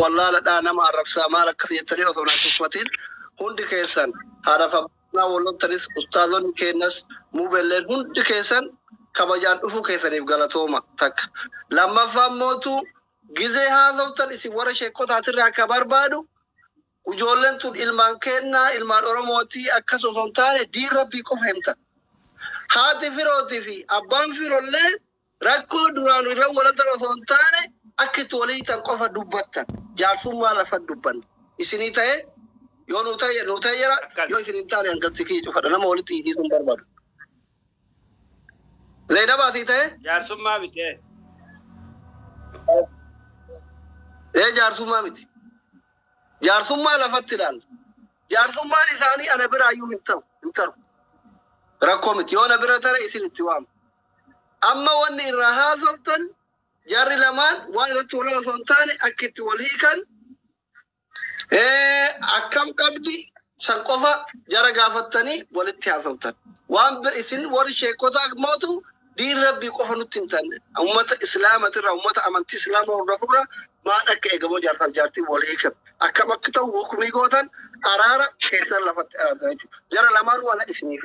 wallaaladha nama arrabsaa maal akkas jettanii osoo hin tuffatiin hundi keessan haadhaaf abbaa walloltanis ustaazonni keenyas muubelleen hundi keessan kabajaan dhufuu keessaniif galatooma takka. Lammaffaa mootu gizee haasoftan isin warra sheekotaatirraa akka barbaadu ijoolleen tun ilmaan kennaa ilmaan Oromootii akkas osoo hin taane diin rabbii qofa himta. Haati firootii fi abbaan firollee Rakkoo duraan irra walaltan osoo hin taane akka itti wal hiitan qofa dubbattan. Jaarsummaa lafa hin dubbanne. Isinii ta'e yoo nu ta'e nu ta'e jira Akkas. yoo isin hin taane hangalti kiyya cufadha nama walitti hiisiisuu hin barbaadu. Zaynabaa sii ta'e Jaarsummaa miti. eh. ee jaarsummaa miti. Jaarsummaa lafatti ilaalla. Jaarsummaan isaanii ana biraayyuu hin ta'u hin ta'u. Rakkoo miti yoo na bira tare isin itti waamu. Amma wanni irraa haasoftan jarri lamaan waan irratti wal lolan osoo hin taane akka itti wal hiikan eh, akkam qabdi san qofa jara gaafattanii walitti haasoftan. Waan bir isin warri sheekotaa mootu diin rabbii qofa nutti himtan. Uummata islaamatirraa uummata amantii islaamaa hordofurra maal akka eegamoo jaarsaaf jaartiin wal hiikan. Akkam akka ta'u hukumii gootan araara keessan lafatti araartan jechuudha. Jara lamaan waan isiniif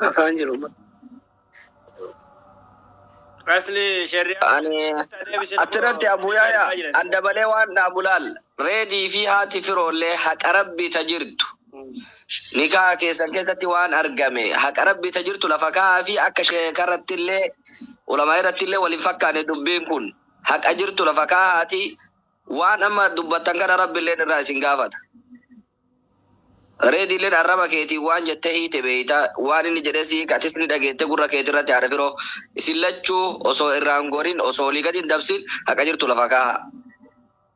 Akaan jiru. Asli shari'a Ani achirratti Abu Yaayaa adda balee waan dhaabu laal. Reedii fi haati firoollee haqa rabbii ta jirtu. Nikaa keessan keessatti waan argame haqa rabbii ta jirtu lafa kaa'aa fi akka sheekarrattillee ulamaa irrattillee wal hin fakkaanne dubbiin kun. Haqa jirtu lafa kaahaatii waan amma dubbattan kana Rabbilleen irraa isin gaafata. Reediilleen arraba keetiin waan jettee hiite beeyta, waan inni jedhee si hiike atis ni dhageette gurra keetirratti haadha firoo. Isin lachuu osoo irraa hin gorin, osoo olii gadi hin dabsin haqa jirtu lafa kaahaa.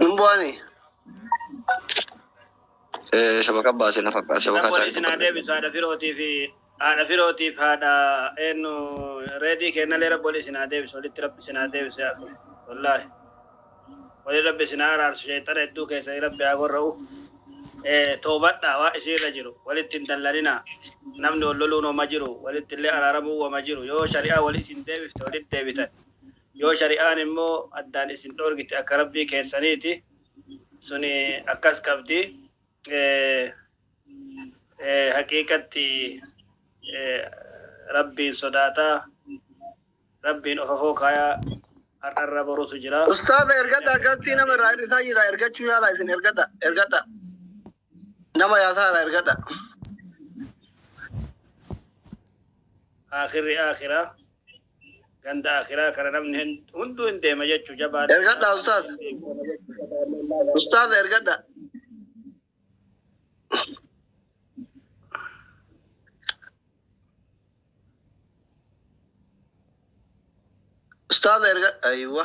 Hin bu'ani. Eh, shabaka baase na fakkaata. Shabaka Rabboon isin haa isaa. deebisu haadha firootii fi haadha firootiif haadha eenyu reedii kennalee rabboon isin haa deebisu walitti rabbi isin haa deebisu yaa akhi. wallaahi waliin rabbi isin haa araarsu sheexana hedduu keessanii rabbi haa gorra'u Eh, toobadhaa waa isin irra jiru walitti hin dallaninaa namni wal loluun homa jiru walitti illee araaramuu homa jiru yoo shari'aa wali isin deebifte walitti deebitan Yoo shari'aan immoo addaan isin dhoorgite akka Rabbii keessaniiti, suni akkas qabdi, haqiiqatti Rabbiin sodaataa, Rabbiin ofafoo kaayaa har'arra borutu jira. Ustaaza ergadhaa galtii nama irraa hir'isaa jira ergachuu yaalaa isin ergadha ergadha nama yaasaa irraa ergadha. Aakhirri aakhiraa. ganda akiraa kana namni hin- hunduu hin deema jechuu jabaa Ergadhaa ustaaz. Ustaaz ergadha. Ustaaz erga aywa.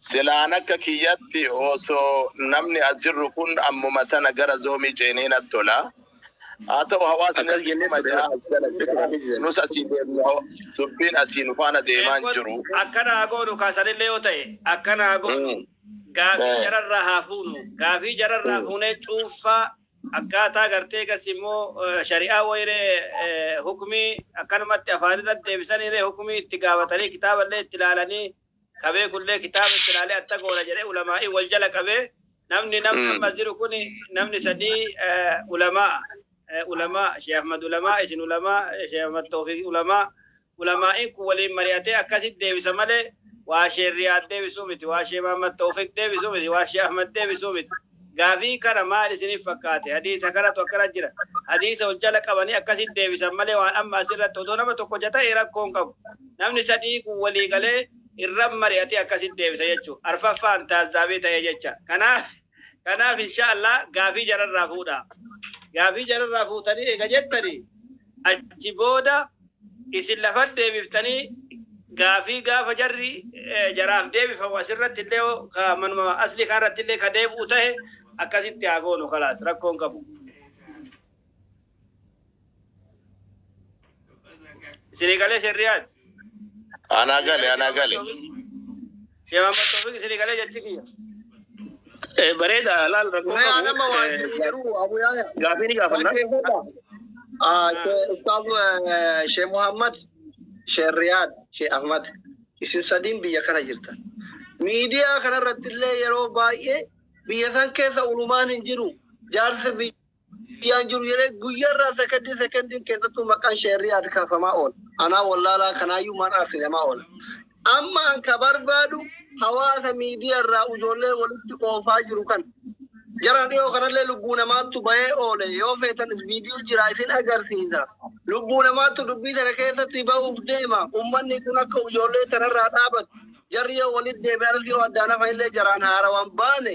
Silaan akka kiyyatti oso namni as jirru kun ammuma tana gara zoomii ceenee natti tola. Haa ta'u hawaasni Akkas kun jennee kuma ja'a turre. as jala Jennee jira. turre. Nus asii deemna hawa- dubbiin asii nu faana deemaa hin Eebbot jiru. akkana haa goonu kaa sanillee yoo ta'e akkana haa goonu. Mm. Gaafii Eh. jararraa haa fuunu. Gaafii jararraa Mm. fuunee cuunfaa akkaataa gartee gas immoo eh, shari'aa wayiree eh, hukumii akkanumatti afaan irratti deebisaniiree hukumii itti gaafatanii kitaaballee itti ilaalanii ka beekullee kitaaba itti ilaalee atta goona jedhee ulamaa'ii wal jala qabee namni namni Mm. ammas jiru kun namni sadii eh, ulamaa eh, ulamaa Sheekh Ahmad ulamaa isin ulamaa eh, Sheekh Ahmad Toofiq ulamaa ulamaa'iin kun waliin mari'atee akkasitti deebisa malee waa Sheekh Riyaad deebisuu miti waa Sheekh Ahmad Toofiq deebisuu miti waa Sheekh Ahmad deebisuu miti Gaafii kana maal isinif fakkaate? Hadiisa kanatu akkana jira. Hadiisa ol jala qabanii akkasitti deebisan malee waan amma as irratti odoo nama tokkocha ta'e rakkoo hin qabu. Namni sadii kun walii galee irra mari'atee akkasitti deebisa jechuudha. Arfaffaan taazzaabee ta'ee jecha. Kanaaf kanaaf inshaa Allah gaafii jararraa fuudhaa. Gaafii jararraa fuutanii eega jettanii. Achi booda isin lafatti deebiftanii gaafii gaafa jarri jaraaf deebifamu asirratti illee ka manuma aslii kanarratti illee ka deebi'u tahe akkasitti haa goonu kalaas rakkoo hin qabu. Isinii galee Sheekh Riyaad? Anaa gale, anaa gale. Sheekh Muhammad Toofiq isinii galee jechi kiyya. Eh, Bareeda laal rakkoo Mee qabu. adama waan Eh, jiru jiru Abu Yaaya. Gaafii ni gaafanna. Ah, Sheikh Ustaz eh, Sheikh Muhammad, Sheikh Riyad, Sheikh Ahmad. Isin sadiin biyya kana jirtan. Miidiyaa kanarratti illee yeroo baay'ee biyya san keessa ulumaan hin jiru. Jaarsi biyya Guyyaan jiru jedhee guyyaarraa sekondii sekondiin keessattuu maqaan sheerrii aad kaafamaa oola. Anaa wallaalaa kanaayyuu maal arsinemaa oola. Amma an ka barbaadu hawaasa miidiyaarraa ijoollee walitti oofaa jiru kan. Jara dhiyoo kanallee lubbuu namaattu bahee oole yoo feetanis viidiyoo jira isin agarsiisa. Lubbuu namaattu dubbii sana keessatti bahuuf deema. Ummanni kun akka ijoollee tanarraa dhaabatu. Jarri yoo walitti deebi'anis yoo addaan hafa illee jaraan haarawaan baane.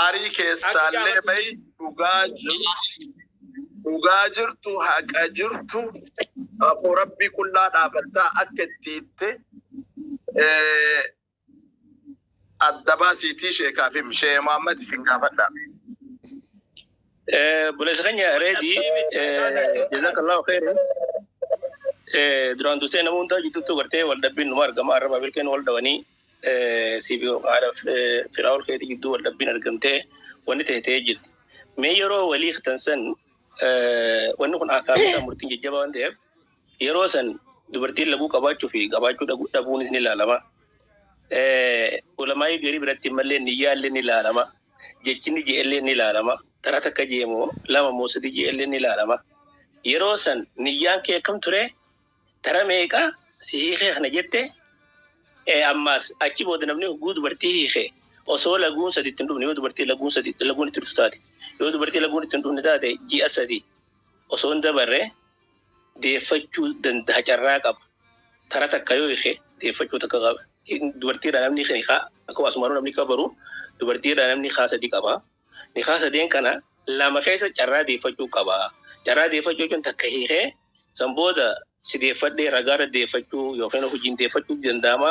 Aarii keessaallee bayi dhugaa jirtu dhugaa jirtu haqa jirtu afoo rabbii qullaa dhaabattaa akka itti hitte eh, adda baasiitii sheekaaf him shee Muhammad isin gaafadha. Buleessa keenya reedii jazakallahu khairan. Duraan dursee nama hundaa gidduutti gartee wal dhabbiin numa argama arraba bilkeen wal dhawanii Siifio haadha Firaa'ol keetii gidduu wal dhabbiin argamtee wanni ta'e ta'ee jirti. Mee yeroo walii hiiktan san wanni kun akaakuu murtiin jajjabaa waan ta'eef yeroo san dubartiin laguu qabaachuu fi qabaachuu dhabuunis ni ilaalama. Ulamaa'ii garii biratti mallee niyyaallee ni ilaalama. Jechinni je'ellee ni ilaalama. Taraa takka je'e moo lama moo sadii je'ellee ni ilaalama. Yeroo san niyyaan kee akkam ture? Tara meeqa si hiikee kana jette ee ammaas achi booda namni hogguu dubartii hiike osoo laguun sadi itti hin dhufne yoo dubartii laguun sadi laguun itti dhuftu taate yoo dubartii laguun itti hin dhufne taate ji'a sadi osoo hin dabarre deeffachuu danda'a carraa qaba tara takka yoo hiike deeffachuu takka qaba dubartiidha namni hiikaa akkuma asumaanuu namni kabaru dubartiidha namni hiikaa sadi qaba. Nikaa sadeen kana lama keessa carraa deeffachuu qaba. Carraa deeffachuu jechuun takka hiikee san booda si deeffadhe ragaa irra deeffachuu yookiin hojiin deeffachuutu danda'ama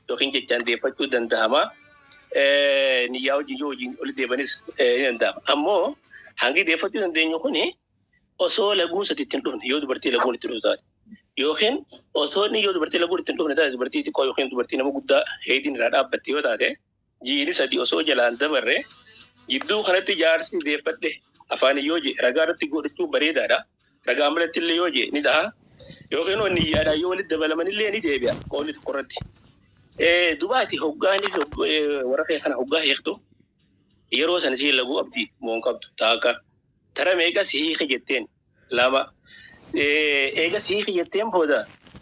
yookiin jechaan deeffachuu danda'ama. Niyyaa wajjin yoo hojiin walitti deebanis ni danda'ama. Ammoo hangi deeffachuu dandeenyu kuni osoo laguun sadi itti hin dhufne yoo dubartii laguun itti dhuftu taate yookiin osoo inni yoo dubartii laguun itti hin dhufne taate dubartii xiqqoo yookiin dubartii nama guddaa heediin irraa dhaabbatte yoo taate Jiini sadii osoo jalaan dabarre jidduu kanatti jaarsi deeffadhe afaaniin yoo jee ragaa irratti godhachuun bareedaadha. Ragaan malatti illee yoo jee ni taha. Yookiin hoo niyyaadhaan yoo walitti dabalaman illee ni deebi'a qawlii tokko irratti. Dubaati hoggaanii fi warra kee kana hoggaa hiiktu yeroo sana si laguu qabdi moo hin qabdu taaka tara meeqa si hiike jetteen lama eega si hiike jetteen booda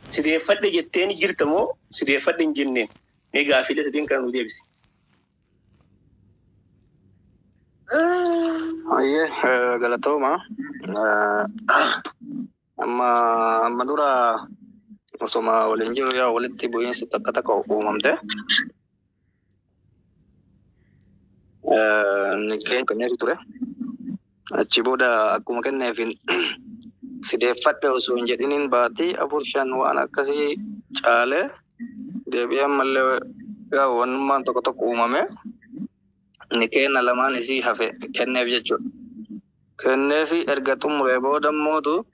si deeffadhe jetteen jirta moo si deeffadhe hin jenneen Mee gaaffiilee sadeen kana nuu deebisi. Ayyee eh, galatooma. Eh, Amma amma dura osoma waliin jiru yaa walitti bu'iinsi takka takka uumamte. Eh, Inni keenya kenneetu ture. Achi booda akkuma kenneefin sideeffadhe osoo hin jedhiniin baatii afur shan waan akkasii caale deebi'ee ammallee gaa wannummaan tokko tokko uumame ni kenna lamaan isii hafe kenneef jechuudha. Kenneefi erga xumuree booda mootu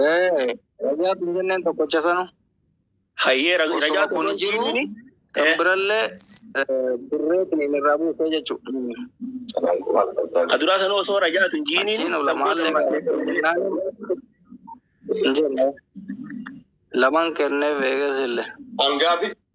Ee, rajaa kun jenneen tokkocha sanu. Hayyee ra- rajaa Osoo kun tokko jiru jiini. kan Eh. birallee eh, birreetiin inni irraa buusee jechuudha. Ka duraa sanuu osoo rajaa tun jiini. Achiin ulamaallee Hin jenne. Lamaan kenneef eegas illee. Hangaafi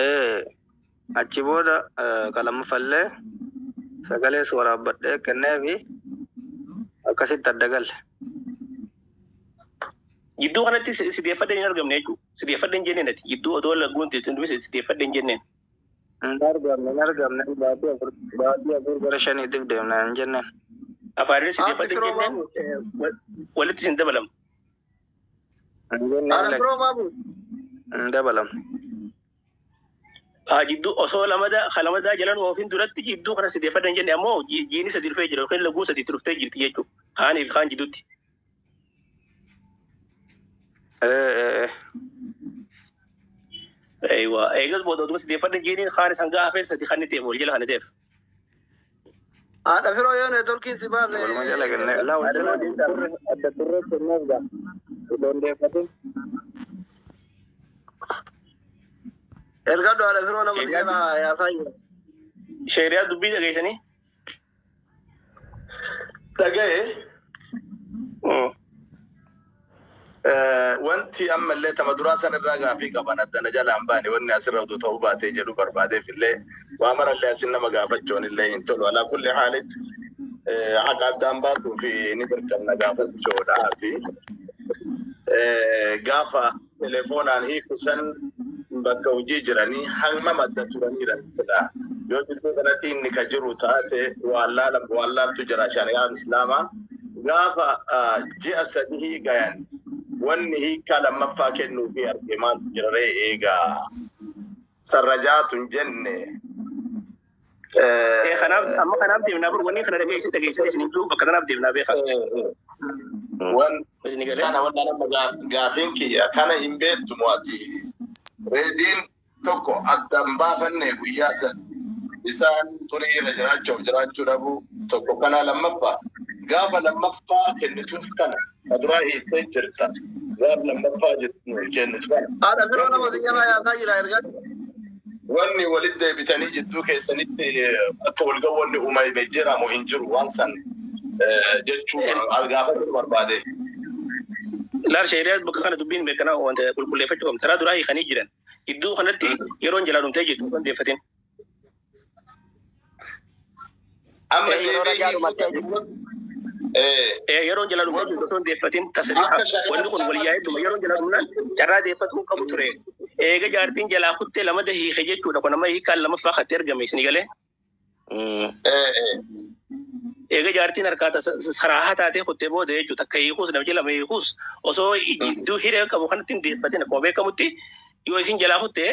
Eh, achi booda eh, ka lammaffallee sagalees waraabbadhee kenneefi akkasitti adda galle. Jidduu kanatti si si deeffadheen hin argamne jechuudha. Si deeffadheen jenneen ati. Jidduu odoo lagguun teetu hundumti si deeffadheen jenneen. Hin argamne, hin argamne. Baatii afur, baatii afur gara shaniitiif deemna hin jenneen. Afaaniin si Haati deeffadheen firoo jenneen maal? wal- walitti sin dabalamne. Haala biroo maa bu'u? Hin dabalamu. Haa jidduu osoo lamadaa ka lamadaa jalan oofin duratti jidduu kana sideeffadha hin jenne ammoo ji- jiini sadi dhufee jira yookiin laguun sadi itti dhuftee jirti jechuudha. Kaanii fi kaan jidduutti. Ee, ee, ee. Eewa. Eegas booda oduma sideeffadha jiiniin kaanis hangaa hafee sadi kan ni ta'eef wal jala kan ni ta'eef. Haadha firoo yoo neetworkiin si baase. Walumaa jala kennee laa wal jala. Adda turree kennuuf gaa. Osoo hin deeffatin. Ergadhu haadha firoo nama si jala yaasaa jiru. Sheeriyaa dubbii dhageessanii. Dhaga'ee. Mm. Wanti amma illee tama duraa san irraa gaafii qaban adda na jalaan baane wanni asirra utuu ta'uu baatee jedhu barbaadeef illee waa mara illee asin nama gaafachuun illee hin tolu. Alaa kulli haalitti haqa addaan baasuu fi ni birqamna gaafachuudha fi gaafa Telefoonaan hiiku san bakka hojii jiranii hangam adda turaniira silaa yoo jidduu kanatti inni ka jiru taate waallaala waallaaltu jira shari'aan islaamaa gaafa ah, ji'a sadihii gayan wanni hiikaa lammaffaa kennuu fi arge maaltu jira ree eegaa sarrajaatu hin jenne Eh, kanaaf amma kanaaf deemnaa bar wanni kana dhageessin dhageessin isin hin jiru bakka kanaaf deemnaa beekaa. Wan Isin galee. kana wanta nama gaa- gaafiin kiyya kana hin beektu mo'ati. Reediin tokko adda hin baafanne guyyaa san isaan turii irra jiraachuuf jiraachuu dhabuu tokko kana lammaffaa gaafa lammaffaa kennituuf kana Ka duraa hiiktee jirta. Gaaf lammaffaa jirtu nuuf kennitu kana. Haadha biroo nama si jalaa yaasaa jira ergan. Wanni walitti deebitanii jidduu keessanitti akka wal ga'u wanni uumame jira moo hin jiru waan san jechuu as gaafachuu barbaade. Laal shari'aa bakka kana dubbiin beekanaa wanta qulqulleeffachuu qabna. Karaa duraa hiikanii jiran. Gidduu kanatti yeroon jalaa dhumtee jirtu kan deeffatin. Amma Ee, yeroo ragaa dhumattee jirtu. Ee, Ee, yeroon jala dhumaa jirtu osoo hin deeffatin tasriixa. Akka shari'aa Wanni kun wal yaa'ee dhuma yeroon jala dhumnaan carraa deeffatu hin qabu ture. Eega jaartiin jalaa kuttee lamada hiike jechuudha. Kun amma hiikaan lamaffaa katti ergame isin galee. Mm. ee, ee. Eega jaartiin harkaa tasa- saraahaa taatee kuttee booda jechuudha. Takka hiikuus nama jala hiikuus osoo jidduu hiree qabu kanatti hin deeffatin akkuma beekamutti yoo isin jalaa kuttee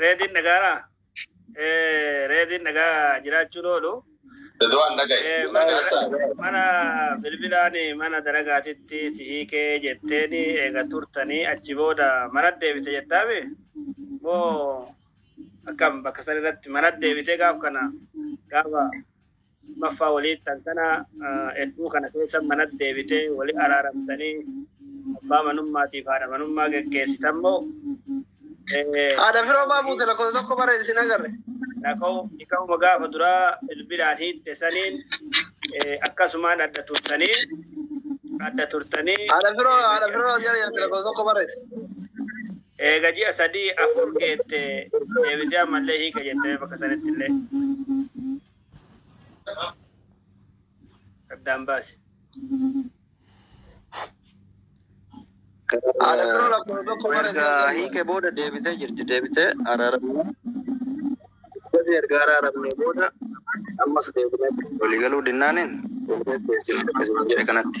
Reediin nagaara. Reediin nagaa jiraachuun oolu. Dadawaan dhagaye. Eh, mana- Dhagaata. Mana bilbilaan mana dalagaatitti si hiikee jetteen eega turtanii achi booda mana deebite jettaame moo akkam bakka san irratti mana deebitee gaaf kana gaafa Lammaffaa walii tantana hedduu kana keessa mana deebitee walii araaramtanii abbaa manummaatiif haadha manummaa geggeessitan moo Haadha firoo maa fuute lakkoofsa tokko bara isin agarre. Lakoo dhiqauma gaafa duraa bilbilaan hiitte saniin eh, akkasumaan adda turtanii adda turtanii Haadha firoo haadha firoo jala jirti lakkoofsa tokko bara isin. eega ji'a sadii afur geette deebitee ammallee hiika jettee bakka sanitti illee. Addaan baase. Haadha biroo lakkoofsa tokko bara Erga deebi'e. hiike booda deebitee jirti. Deebitee araaramne. Akkasii erga araaramne booda ammas deebinee waliigaluu dinnaaniin deebinee dhiyeessine akkasuma jedhe kanatti.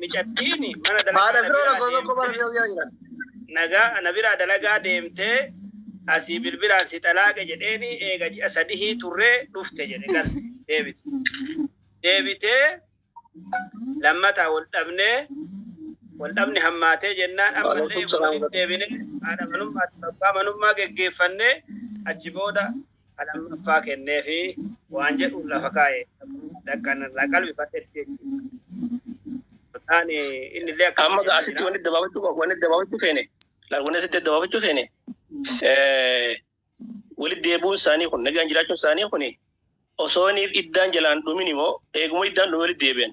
Micattiini mana dalagaa Haadha na firoo biraa lakkoofsa tokko bara deemtee si'a jira. nagaa na biraa dalagaa deemtee asii bilbilaan si xalaaqe jedheeni eega ji'a sadihii turree dhufte jedhe galte deebite. Deebitee lammataa wal dhabnee wal dhabni hammaatee jennaan ammallee Waalaikum eega salaam. walitti deebinee haadha manummaa abbaa manummaa geggeeffannee achi booda ka lammaffaa kennee fi waan jedhuun lafa kaa'e dhaqqan irraa qalbifadhetti jechuudha. Taani inni illee akka Amma asitti wanni dabaafachuu qabu wanni dabaafachuu feene laal wanni asitti dabaafachuu feene walitti deebi'uun isaanii kun nagaan jiraachuun isaanii kun osooniif iddaan jalaan dhumin immoo eeguma iddaan dhume walitti deebi'an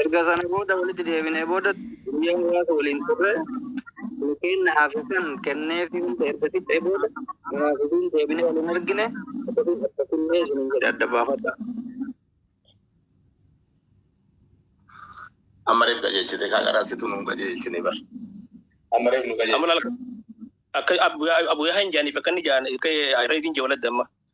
Erga sana booda walitti deebinee booda guyyaa muraasa waliin turre milkeen na haafisan kennee fi hunda erga fixee booda anaa fi isiin deebinee wal hin argine akkasiin akkasinnee isiniin jedhe adda baafadha. Amma reef qajeelchite kaa garaa situ nuun qajeelchine bar. Amma reef nu qajeelchite. Amma akka abuyaa hin jaaniif akka inni jaan akka reefiin jawala damma.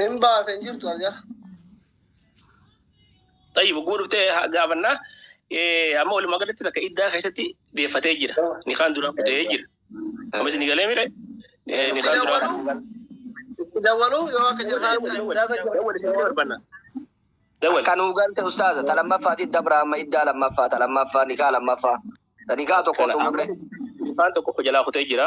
Hin baate hin jirtu as jala. Tayyib oguu dhuftee haa gaafannaa. Eh, Amma walumaa galatti takka iddaa keessatti deeffatee jira. Nikaan duraa kutee jira. Ammas ni galee mire. Eh, Nikaan duraa kutee. Itti dawwalu yoo akka jirtaan addaa ta'e. Dawwal isin barbaanna. Dawwal. Kan nuu galte ustaaza ta lammaffaatiif dabra amma iddaa lammaffaa ta lammaffaa nikaa lammaffaa ta nikaa tokko Kana xumurre. Nikaan tokko jalaa kutee jira.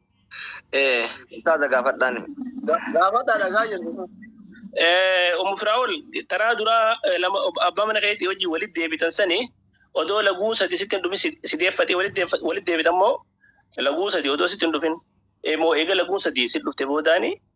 Eh, Ustaaza gaafadhaan. Gaafadhaa dhagaa jirtu. Eh, Ummu Firaa'ol taraa duraa eh, lama ob- abbaa mana keetii hojii walitti deebitan sani odoo laguu sadi sitti hin dhufin si- si deeffatee walitti deeffa- walitti deebitan moo laguu sadi odoo sitti hin dhufin Eh, moo eega laguu sadi sitti dhufte boodaani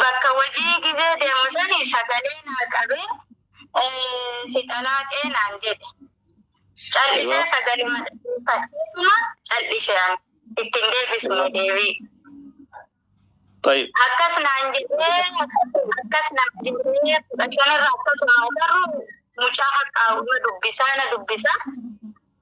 bakka hojii gizee deemu sani sagalee naa qabee eh, si xalaaqee naan jedhe. Callisee Yoo. sagaluma dhageeffateetuma callise ani. Ittiin deebisne deebii. Tayyib. Akkas naan jedhee akkas naan jedhee fudhachonirra akkasuma garuu mucaa haqqaawuma dubbisaa na dubbisaa.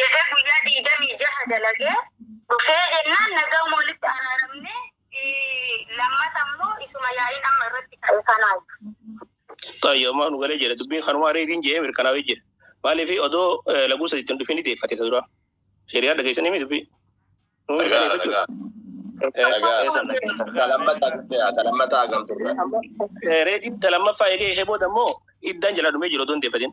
jedhee guyyaa digdamii jaha dalagee dhufee jennaan nagaan walitti araaramne lammata immoo isuma yaa'iin amma irratti ka'e kanaa. Taayyo ammaa nu galee jedhe dubbiin kanumaa reetiin jedhee mirkanaa'ee jedhe. Maaliif odoo laguu sadiitti hin dhufin deeffate isa duraa. Shariyaa dhageessanii mi dubbii? Nu mirkaneeffachuu. Reetiin ta lammaffaa eegee ishee booda immoo iddaan jala dhumee jiru odoo hin deeffatin.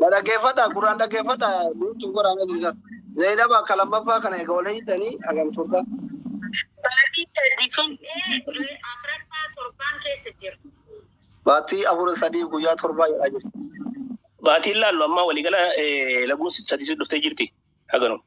Na dhaggeeffadha gurraan dhaggeeffadha guutuu godhaa mee jirta. Zainab akka lammaffaa kana egaa wal hiitanii hagam turta. Baatii sadii fixee afraffaa torbaan keessa jira. Baatii afur sadii guyyaa torbaa jedhaa jirti. Baatiin laallu amma waliigala eh, laguun sadii dhuftee jirti. Haganuma.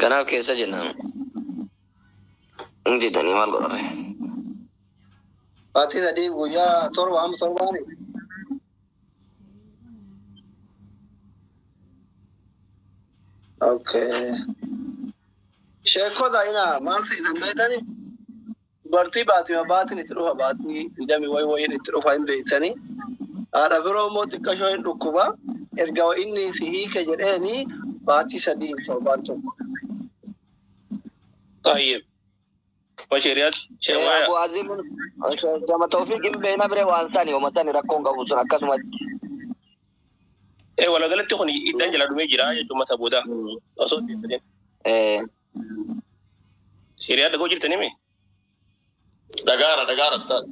Kanaaf keessa jennaan. Hin jedhanii maal godhame. Baatii sadii guyyaa torba amma torbaani. Okay. Sheekota ina maal ta'e dambeetani? Dubartii baatima baatiin itti dhufa baatii digdamii wayi wayiin itti dhufa hin beektani. Haadha firoo immoo xiqqashoo hin dhukkuba. Erga inni si hiike jedheeni baatii sadii torbaan tokko. Tayyib. Bashiriyat. Shewaya. Abu Azim jama tawfiq hin beekna bire waan sani homa sani rakkoon qabu sun akkasumatti. Eh, walagalatti kun iddan jala dhumee jira jechuun mata booda. Osoo hin jedhin. Eh, Shari'aa dhagoo jirtanii mee? Dhagaara dhagaara ustaad.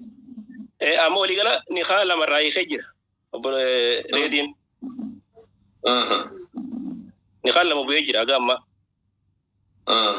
Eh, Amma walii gala nikaa lama irraa hiikee jira. Obbo eh, Reediin Mhm. nikaan lama bu'ee jira haga ammaa. Mhm.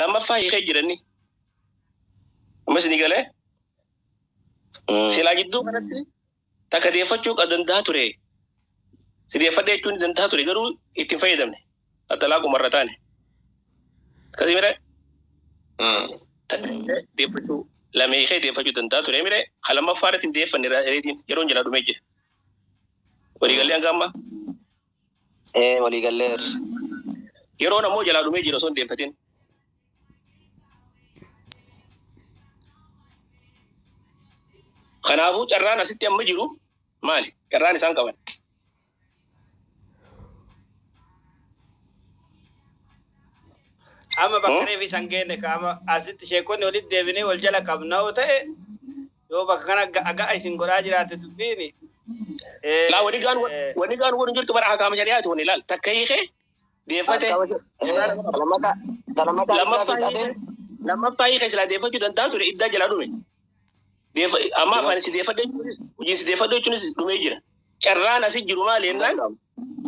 lammaffaa hiikee jiranni amma isinii galee silaa jidduu kanatti takka deeffachuu kan danda'a ture si deeffadhe jechuun ni danda'a ture garuu itti hin fayyadamne attalaa qumarra taane akkasii mire deeffachuu lama hiikee deeffachuu danda'a ture mire kan lammaffaa irratti hin deeffanne reediin yeroon jalaa dhumee jira walii galee hanga ammaa. Ee walii galleerra. Yeroon ammoo jalaa dhumee jira osoo hin deeffatin. Kanaafuu carraan asitti amma jiru maali? Carraan isaan qaban. Amma bakka reefi san geenne ka amma asitti sheekonni walitti deebinee wal jala qabna yoo ta'e Yoo bakka kana ga'a ga'a isin godhaa jiraatte dubbiin. Laa wani gaan wani gaan wani jirtu bara hakaama shari'aati wani laal takka hiikee deeffate Lammataa lammataa lammaffaa hiikaa hiikee fixatee lammaffaa hiikee silaa deeffachuu danda'a ture iddaa jalaa dhume. Deeffa amma yoo afaan si deeffadhe jechuunis hojii si deeffadhe jechuunis dhumee jira. Carraan asi jiru maali hin jennaan danda'amu.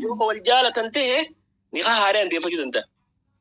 yoo ka wal jaalatan ta'e nikaa haaraan deeffachuu danda'a.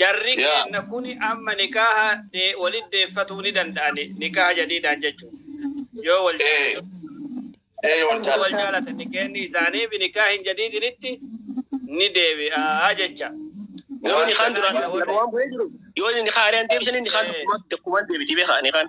Jarri keenna kuni amma nikaaha walit deeffatuu ni danda'ani nikaaha jadiidaan jechuun yoo wal jaalatan yoo wal jaalatan jaalatan nikeenni isaanii fi nikaahin jadiidinitti ni deebi'aa jecha garuu waan nikaan duraan sanaan yoo ta'e waan bu'ee jiru yoo inni kaan ari'an deebisanii nikaan Eh. dakkumaan deebiti beekaa nikaan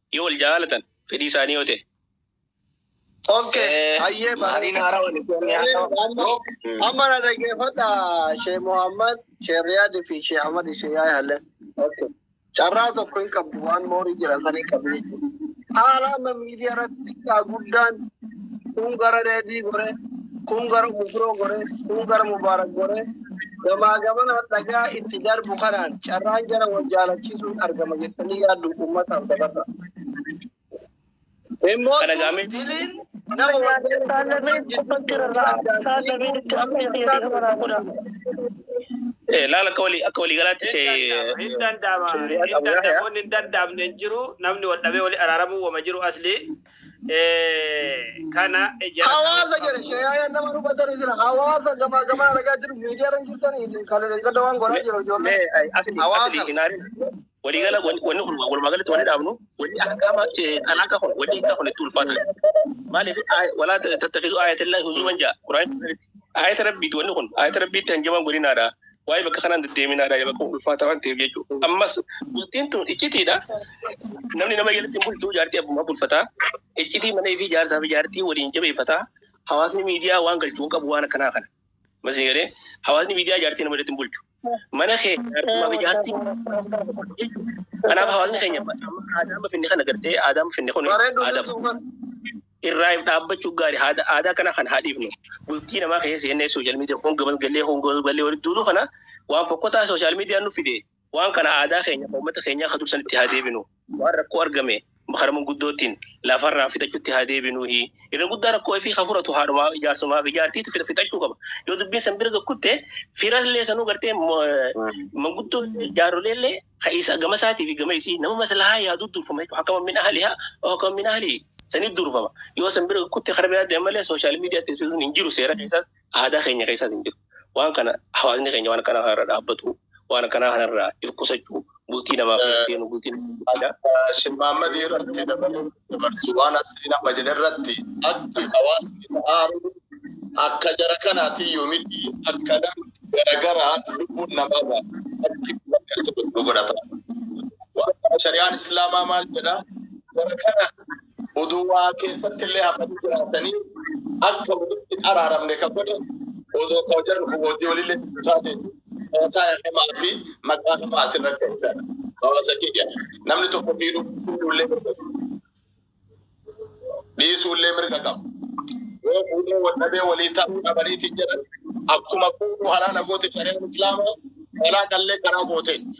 Yoo wal jaalatan fedhii isaanii yoo ta'e. Okay, Eh, hayyee Maariin bareeda. haaraa walitti wanni haaraa. Bareeda. Amma amma na dhaggeeffadha Shee Muhammad, Shee Riyaad fi Shee Ahmad Shee Yaa'ii Halle. Okay. Carraa tokko hin qabdu waan moorii jira san hin qabdu jechuudha. Haala amma miidiyaa irratti xiqqaa guddaan kun gara Reedii gore, kun gara Mufroo gore, kun gara Mubaarak gore, Gamaa gamanaan dhagaa itti darbu kanaan carraan jara wal jaalachiisuun argama jettanii yaaddu uummataaf dabarra. Immoo Kana gaamee- diliin nama wal Eh, Laala akka walii akka walii galaatti ishee Hin danda'ama. Hin danda'ama. Hin danda'amne hin jiru. Namni wal dhabee wali araaramuu wama jiru asli. kana hawaasa jedhe shayaayaan nama hubatanii jira hawaasa gamaa gamaa argaa jiru miidiyaa irra jirtan isin kan gadda waan godhaa jiru ijoollee hawaasa waliigala wanni kun walumaa galatti wanni dhaabnu wanni akkama xalaqa kun wanni akka kun itti ulfaata maaliif walaa tattafisu ayatillahi huzuman jaa quraan ayata rabbiiti wanni kun ayata rabbiitti hanjaman godhinaadha waa'ee bakka kanaan deddeeminaa dha bakka ulfaataa waan ta'eef jechuudha. Ammas bultiin tun iccitiidha. Namni nama jalatti bulchuu jaartii abbummaa bulfataa. Iccitii mana fi jaarsaa fi jaartii waliin jabeeffataa. Hawaasni miidiyaa waan galchuu hin qabu waan akkanaa kana. Masii galee hawaasni miidiyaa jaartii nama jalatti bulchu. Mana kee jaartummaa fi jaartii kanaaf hawaasni keenya aadaa mafinni kana gartee aadaa mafinni kun aadaa irraa if dhaabbachuun gaari haada aadaa kana kan haadhiifnu bultii namaa keessa seennee sooshaal miidiyaa honga balgallee honga balgallee walitti duuluu kana waan fokkotaa sooshaal miidiyaan nu fide waan kana aadaa keenya kan uummata keenyaa kan dursan itti haa deebinu waan rakkoo argame karaa manguddoottiin lafarraa fixachuutti haa deebinu irra guddaa rakkoo fi kan furatu haadhumaa ijaarsumaa fi ijaartiitu fixa- fixachuu qaba yoo dubbiin san bira gakkutte firallee sanuu gartee mo- manguddoo jaarroleellee ka isa gama isaatii fi gama isii nama maslahaa yaadu durfama jechuudha. Hakama min ahlihaa oo hakama min ahli sanii durfama. Yoo san bira kutti kara biraa deema malee sooshaal miidiyaatti sun hin jiru seera keessaas aadaa keenya keessaas hin jiru. Waan kana hawaasni keenya waan akkanaa kanarra dhaabbatu waan akkanaa kanarraa if qusachuu bultii namaaf seenu bultii namaaf aadaa. Shimmaammadii irratti dabaluun Dabarsi waan Asriin amma jedhe irratti akki hawaasni aaru akka jara kanaatii yoomiti akkana garagaraan lubbuun namaa ba'a. Akki wanni asirratti nu godhata. Waan kana shari'aan Islaamaa maal jedha? Jara kana odoo waa keessatti illee hafanii jiraatanii akka walitti hin araaramne ka godhe odoo ka jarri kun hojii walillee taatee Hawaasaa himaa fi maqaa himaa asirratti argina. Hawaasa kiyya. Namni tokko fiiduu fuudhuullee mirga qaba. Dhiisuullee mirga qaba. Yoo fuudhee wal dhabee walii ta'uu dhabaniitiin jedhan akkuma fuudhuu halaala goote shari'aan islaamaa halaa qallee karaa gooteetti.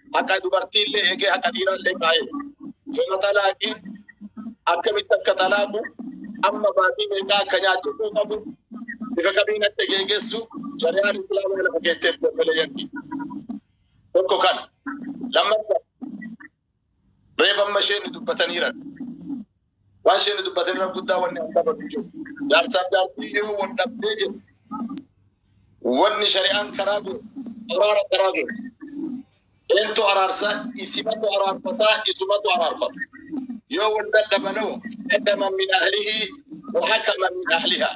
haqa dubartii illee eegee haqa dhiiraa illee kaa'ee yooma talaaqii akkamitti akka talaaqu amma baatii meeqaa akka nyaachuu qabu bifa kamiin akka geegessu shari'aan islaamaa lafa keessatti dabbalee yanni tokko kana lammaffaa reefa amma isheen dubbataniiran Waan isheen dubbate irra guddaa wanni an qabatu jiru. Jaarsaaf jaartii yoo wal dhabdee jiru. Wanni shari'aan karaa jiru. Araara karaa jiru. Eentu araarsa isimatu araarfataa isumatu araarfata. Yoo wal dadhabanoo hakaman min ahlihi wa hakaman min ahlihaa.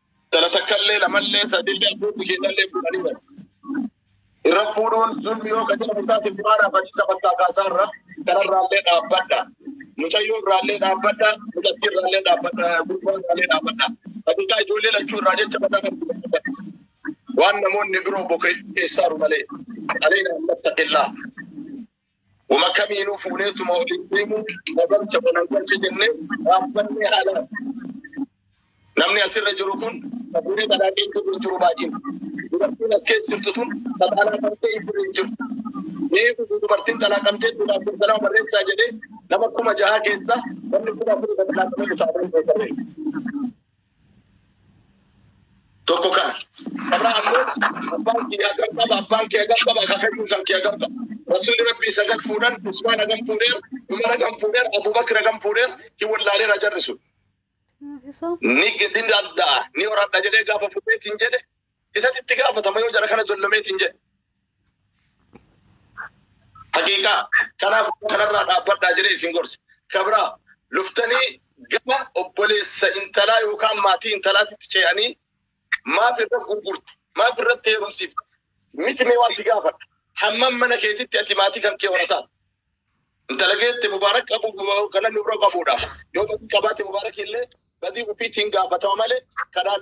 Intala takkallee lamallee sadillee abbootii keenyallee fuudhanii bari. Irra fuudhuun zulmi yoo ka jedhamu taate bu'aara badiisa bakkaa kaasaa irra intalarraallee dhaabbadha. Mucayyoo irraallee dhaabbadha. Mucattii irraallee dhaabbadha. Gurbaa irraallee dhaabbadha. Haqiiqaa ijoollee lachuu irraa jecha mataa kan dhaabbadha. Waan namoonni biroo bokeessaaru malee. Aleenaa hin mattaqillaa. Wama kamiinuu fuuneetuma waliin deemuu nagalcha wanagalcha jennee dhaabbannee haala namni asirra jiru kun kafuurii kanaa keessa jiru jiru baay'een dubartiin as keessa jirtu tun xaxaalaa qabtee hin jiru hin jiru mee dhufu dubartiin xalaa qabtee tuudhaaf kun sanaa barreessaa jedhee nama kuma jahaa keessa namni kuma afurii kan xalaa qabee taa'ee tokko kana irraa ammoo abbaan kiyya hagam qaba abbaan kee hagam qaba akaakayyuun kan kee hagam qaba rasuulli rabbii sagal fuudhan usmaan hagam fuudheer umar hagam fuudheer abubakir hagam fuudheer hin wallaaleera jarri sun ni ni danda'a ni horadha jedhee gaafa fuudheetiin jedhe Isatu itti gaafatama yoo jara kana zollomeetiin jedhe. Haqiiqaa kanaaf kanarraa dhaabbadhaa jedhee isin gorse. Kabraa luftanii gama obboleessa intalaa yookaan maatii intalaatitti ce'anii maaf irra gurgurte maaf irratti heerumsiifte miti mee waan si gaafadha. Hammam mana keetitti ati maatii kan kee horataa. Intala geette mubaarak qabu kana nurra qabuudha. Yoo badii qabaate mubaarak illee badii ofiitiin gaafatama malee kanaan